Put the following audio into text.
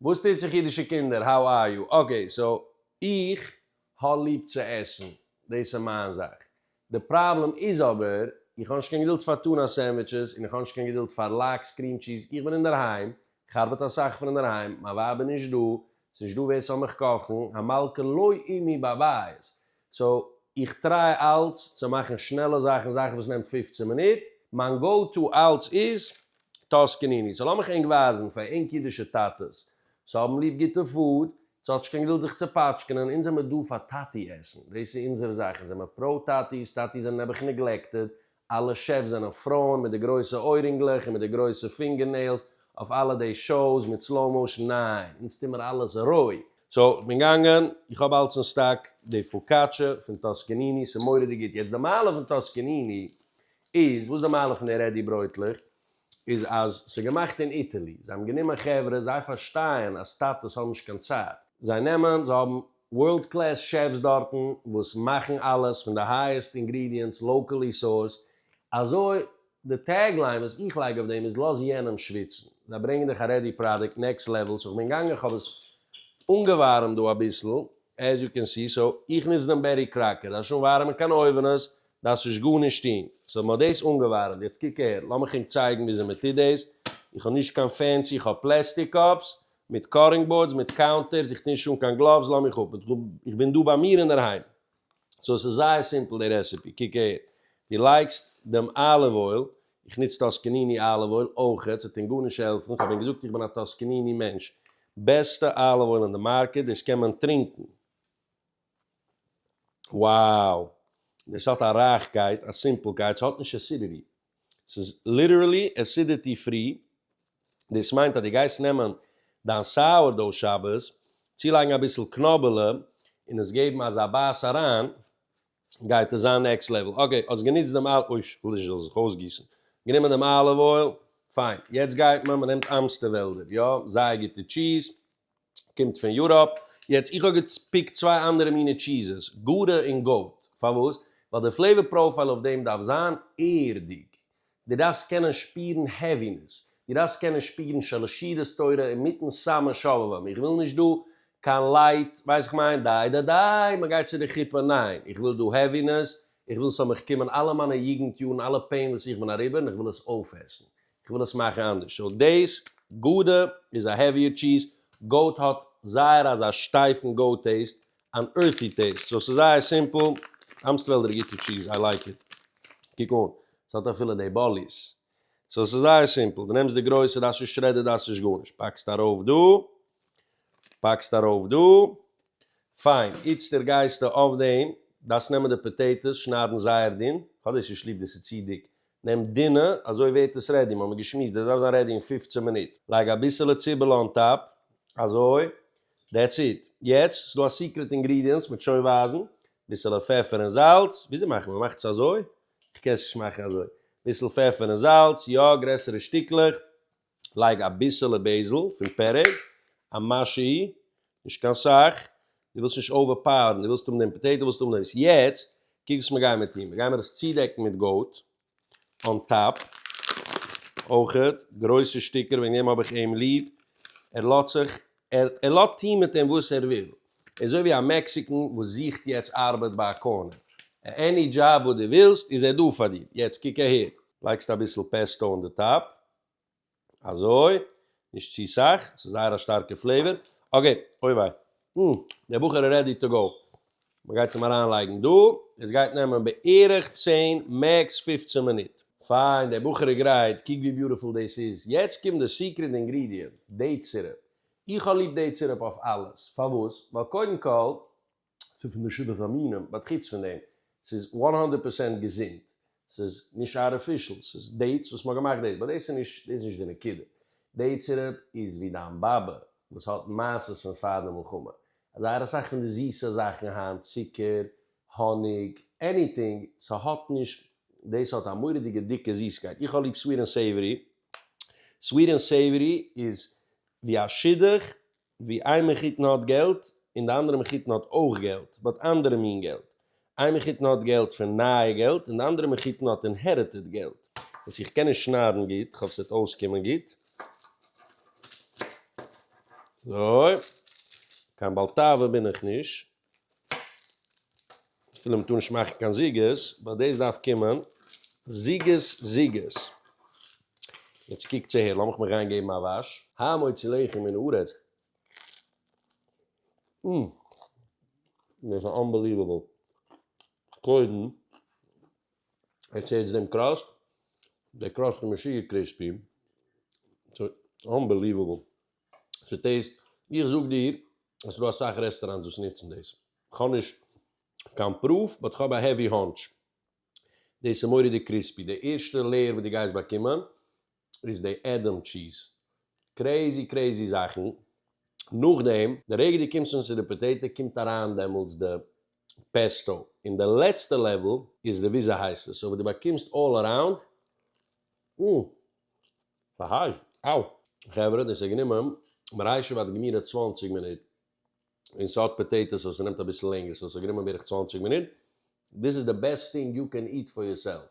וואס טוט זיך אידישע קינדער האו אר יו, אקעי סאו איך האב ליב צו עסן, דאס איז מיין זאך, די פראבלעם איז אבער איך האב נישט קיין געדולד פאר טונא סענדוויטשעס און איך האב נישט קיין געדולד פאר לאקס קריעם טשיז, איך בין אינדערהיים, איך ארבעט אסאך פון אינדערהיים, מיין ווייב איז נישט דא, ס'נישט דא ווער ס'זאל מיך קאכן, המלכה לא עמי בבית, סאו איך טריי אלץ צו מאכן שנעלע זאכן, זאכן וואס נעמט פֿופֿצן מינוט, מיין גאו טו אלץ איז טאסקעניני, סאו לאמיך ענק ווייזן פאר ענק אידישע טאטעס וואס האבן ליב גוטע פוד, אונז האט נישט קיין געדולד זיך צו פאטשקענען, אונז זעמער דא פאר טאטי עסן, דאס איז אונזער זאך, אונז זעמער פראו טאטי'ס, טאטי'ס זענען נעבעך נעגלעקטעד, אלע שעפס זענען פרויען מיט די גרויסע אוירינגלעך און מיט די גרויסע פינגער נעילס אויף אלע די שאוס מיט סלאו מאושן ניין אונז טוה מיר אלעס רוי. סאו איך בין גאנגען איך האב אלץ אין סטאק די פאקאטשע פון טאסקעניני סאיז מוראדיג גוט יעצט די מעלה פון טאסקעניני איז וואס די מעלה פון די רעדי ברויטלעך איז אז סאיז געמאכט אין איטעלי זיי האבן גענומען חברה זיי פארשטייען אז טאטעס האבן נישט קיין צייט זיי נעמען זיי האבן ווארלד קלעס שעפס דארטן וואס מאכן אלעס פון די הייעסט אינגרידיענטס לאקעלי סאורסד, אזוי די טעג ליין וואס איך לייג אויף דעם איז לאז יענעם שוויצן, זיי ברענגן דיך א רעדי פראדוקט נעקסט לעוועל, סאו כ'בין געגאנגען כ'האב עס אנגעווארעמט דא אביסל, עז יו קען סי, סאו איך נוץ דעם בעטי קראקער, דארפסט נישט אנווארעמען קיין אויווענעס, דארפסט נישט גארנישט טון, סאו מ'האט דאס אנגעווארעמט, יעצט קוק אהער, לאמיך ענק צייגן וויאזוי מ'טוט דאס, איך האב נישט קיין פענסי, איך האב פלעסטיק קאפס, מיט קארינג באורדס, מיט קאונטערס, איך טוה נישט אן קיין גלאווס, לאז מיך אפ, איך בין דא ביי מיר אינדערהיים. סאו ס'איז זייער סימפל די רעסעפי, קוק אהער, דו לייגסט דעם אליוו אויל, איך נוץ טוסקעניני אליוו אויל אויכעט, ס'וועט אים גארנישט העלפן, כ'האב אים געזאגט איך בין א טוסקעניני מענטש, בעסטע אליוו אויל אין די מארקעט, דאס קען מען טרינקן. wow דאס האט א רייכקייט א סימפלקייט ס'האט נישט עסידיטי ס'איז ליטערלי עסידיטי פרי דאס מיינט אז דו גייסט נעמען דיין סאוער דאו שבת צולייגן אביסל קנאבעלע און עס געבן אזא בייס אריין גייט עס זיין נעקסט לעוועל אקעי האסט גענוצט דעם אליוו אוי כ'וויל נישט ס'זאל זיך אויסגיסן גענומען דעם אליוו אויל פיין יעצט גייט מען מ'נעמט אמסטעוועלדער יא זייער גוטע טשיז. קומט פון יוראפ, יעצט איך האב געפיקט צוויי אנדערע מיני טשיזעס, גאודע און גאוט, פארוואס? ווייל די פלעיווער פראופייל אויף דעם דארף זיין ערדיג, דו דארפסט קענען שפירן העווינעס, דו דארפסט קענען שפירן שעלשירת תורה אינמיטן סאמע שובבים, איך וויל נישט דא קיין לייט, ווייסט איך מיין, די די די מען גייט צו די חופה, ניין, איך וויל דא העווינעס, איך וויל ס'זאל מיך קומען אלע מיינע יוגנט יארן אלע פעין וואס איך בין אריבער און איך וויל עס אויפעסן, כ'וויל עס מאכן אנדערש. סאו דעיס, גאודע איז א העוויער טשיז, גאוט האט זייער אזא שטייפן גאוט טעיסט, אן ערטי טעיסט, סאו ס'איז זייער סימפל, אמסטוועלדער איז גוטע טשיז, איי לייק איט, קוק אן, ס'האט אפילו די באליס, סאו ס'איז זייער סימפל, די נעמסט די גרויסע, דאס איז שרעדעד, דאס איז גארנישט, פאקסט ארויף דא, פאקסט ארויף דא, פיין, איצטער גייסטו אויף דעם, דארפסט נעמען די פאטעיטאס, שניידן זייער דין, כ'האב דאס נישט ליב, דאס איז צו דיק, נעם דינע, אזוי ווערט עס רעדי, מ'האמיר געשמועסט, דאס דארף זיין רעדי אין פֿופֿצן מינוט, לייג אביסעלע ציבעלע אן טאפ, אזוי, דעטס איט, יעצט ס'דא א סיקרעט אינגרידיענס, מ'וועט שוין ווייזן, ביסעלע פעפער און זאלץ, וויאזוי מאכט מען, מ'מאכט עס אזוי? כ'קען עס נישט מאכן אזוי, ביסל פעפער און זאלץ, יא, גרעסערע שטיקלעך, לייג אביסעלע בעזל פון פערעג, א משהו, נישט קיין סאך, דו ווילסט נישט אווער פאוערן, דו ווילסט האבן דעם פאטעיטא וואס דו נעמסט. יעצט קוק וואס מיר גיימער טון, מיר גיימער עס צודעקן מיט גאוט אן טאפ, אויכעט גרויסע שטיקער, וועגן דעם האב איך אים ליב, ער לאזט זיך, ער ער לאזט טון מיט אים וואס ער וויל, ער איז אזוי ווי א מעקסיקען וואס זוכט יעצט ארבעט ביי א קארנער, עני דזשאב וואס דו ווילסט איז ער דא פאר דיר, יעצט קוק אהער. לייגסט אביסל פעסטא אן די טאפ, אזוי, נישט צו סאך, ס'איז זייער א שטארקע פלעיווער, אקעי, אוי וויי, אה, דער בחור איז רעדי טו גאו, מ'גייט אים אריין לייגן דא, עס גייט נעמען בערך צען מעקס פֿופֿצן מינוט. פיין, דער בחור איז גרייט, קוק ווי ביוטיפול דאס איז, יעצט קומט די סיקרעט אינגרידיענט, דעיט סירופ, איך האב ליב דעיט סירופ אויף אלעס, פארוואס? ווייל קודם כל. ס'איז פון די שבעת המינים, באט חוץ פון דעם, ס'איז וואן האנדערט פערסענט געזונט, ס'איז נישט ארטיפישעל, ס'איז דעיטס וואס מ'האט געמאכט דעיס, באט דאס איז נישט, דאס איז נישט די נקודה, דעיט סירופ איז ווי דיין באבע וואס האט מעשות פון פאר די מלחמה, אז זייער אסאך פון די זיסע זאכן היינט, צוקער, האניג, עניטינג, ס'האט נישט, דאס האט א מורא'דיגע דיקע זיסקייט, איך האב ליב סוויט ענד סעיווערי, סוויט ענד סעיווערי איז ווי א שידוך ווי איין מחותן האט געלט און די אנדערע מחותן האט אויך געלט באט אנדערע מין געלט, איין מחותן האט געלט פון נייע געלט און די אנדערע מחותן האט אינהעריטעד געלט, וואס איך קען נישט שניידן גוט, כ'האף ס'וועט אויסקומען גוט. אזוי, קיין בעל תאווה בין איך נישט. אפילו מ'טאר נישט מאכן קיין זוגות, באט דאס דארף קומען, זוגות זוגות. יעצט קוקטס אהער, לאמיך מיך גיין געבן א וואש. ה' מוציא לחם מן הארץ. אום. דאס איז אנבעליוועבל. קודם עטס הערטס דעם קראסט? דער קראסט איז משוגע קריספי. ס'איז אנבעליוועבל. ס'איז טעיסט, איך זאג דיר אז ס'דא אסאך רעסטאראנטס וואס נוצן דאס, כ'האב נישט קיין פרוף באט כ'האב א העווי האנטש, דאס איז מורא'דיג קריספי, די ערשטע לעיער וואס דו גייסט באקומען איז די עדעם טשיז, קרעיזי קרעיזי זאכן, נאכדעם די רגע דו קומסט אן צו די פאטעיטא קומט אריין דעמאלטס די פעסטא, און די לעצטע לעוועל איז די וויזעהייסטעס אויף וואס דו באקומסט אלל אראונד, אום. חברה, דאס האט גענומען מרעישוב עד גמירא צוואַנציק מינוט, און ס'האט פאטעיטאס וואס ס'נעמט אביסל לענגער, סאו ס'האט גענומען בערך צוואַנציק מינוט, דיס איז די בעסט טינג יו קען איט פאר יור סעלף.